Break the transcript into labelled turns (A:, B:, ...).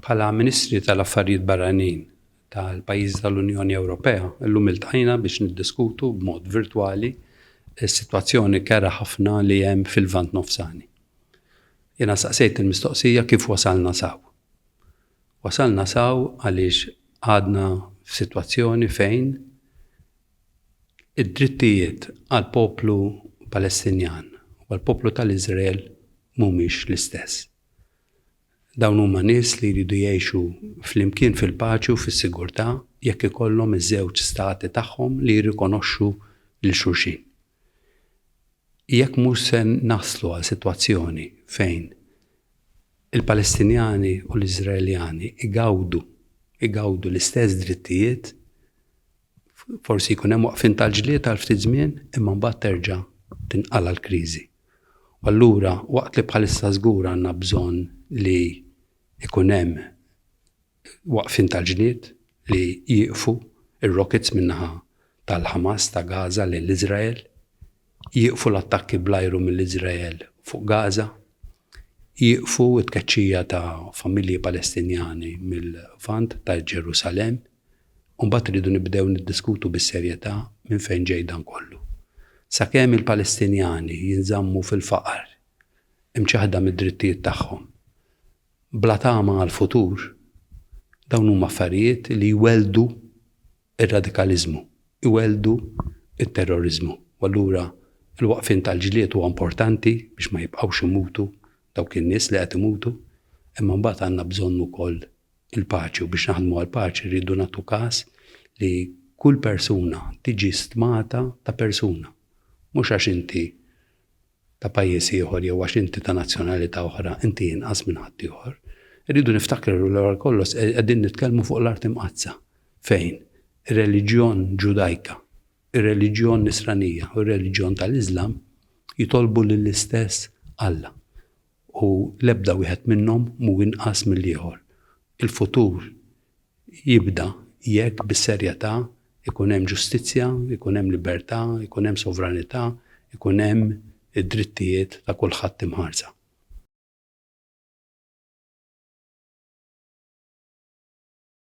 A: Bħala Ministri tal-Affarijiet Barranin tal-pajjiżi tal-Unjoni Ewropea, illum iltqajna biex niddiskutu b'mod virtwali s-sitwazzjoni kerha ħafna li hemm fil-Lvant Nofsani. Jiena staqsejt il-mistoqsija kif wasalna s'hawn. Wasalna s'hawn għaliex għadna f'sitwazzjoni fejn id-drittijiet għall-poplu Palestinjan u għall-poplu tal-Iżrael mhumiex l-istess. Dawn huma nies li jridu jgħixu flimkien fil-paċi u fis-sigurtà jekk ikollhom iż-żewġ stati tagħhom li jirrikonoxxu lil xulxin. Jekk mhux se naslu għal sitwazzjoni fejn il-Palestinjani u l-Iżraeljani jgawdu jgawdu l-istess drittijiet, Forsi jkun hemm waqfien tal-ġlied għal ftit żmien imma mbagħad terġa' tinqala' l-kriżi. U allura waqt li bħalissa żgur għandna bżonn li jkun hemm waqfien tal-ġlied, li jieqfu r-rockets min-naħa tal-Ħamas ta' Gaza lejn l-Iżrael, jieqfu l-attakki bl-ajru mill-Iżrael fuq Gaza, jieqfu t-tkeċċija ta' familji Palestinjani mill-Lvant ta' Ġerusalemm, u mbagħad irridu nibdew niddiskutu bis-serjetà minn fejn ġej dan kollu. Sakemm il-Palestinjani jinżammu fil-faqar, imċaħħda mid-drittijiet tagħhom, bla tama għall-futur, dawn huma affarijiet li jwelldu r-radikaliżmu, iwelldu t-terroriżmu. U allura l-waqfien tal-ġlied huwa importanti biex ma jibqgħux imutu dawk in-nies li qed imutu, imma mbagħad għandna bżonn ukoll il-paċi u biex naħdmu għall-paċi rridu nagħtu każ li kull persuna tiġi stmata ta' persuna. Mhux għax inti ta' pajjiż ieħor jew għax inti ta' nazzjonalità oħra inti inqas minn ħaddieħor. Irridu niftakru l għal kollox e- qegħdin nitkellmu fuq l-art imqazza. Fejn? Ir-reliġjon ġudajka, ir-reliġjon nisranija u r-reliġjon tal-Iżlam jitolbu lill-istess Alla. u l-ebda wieħed minnhom mhu inqas mill-ieħor. Il-futur jibda jekk bis-serjetà jkun hemm ġustizzja, jkun hemm libertà, jkun hemm sovranità, jkun hemm id-drittijiet ta' kulħadd imħarsa.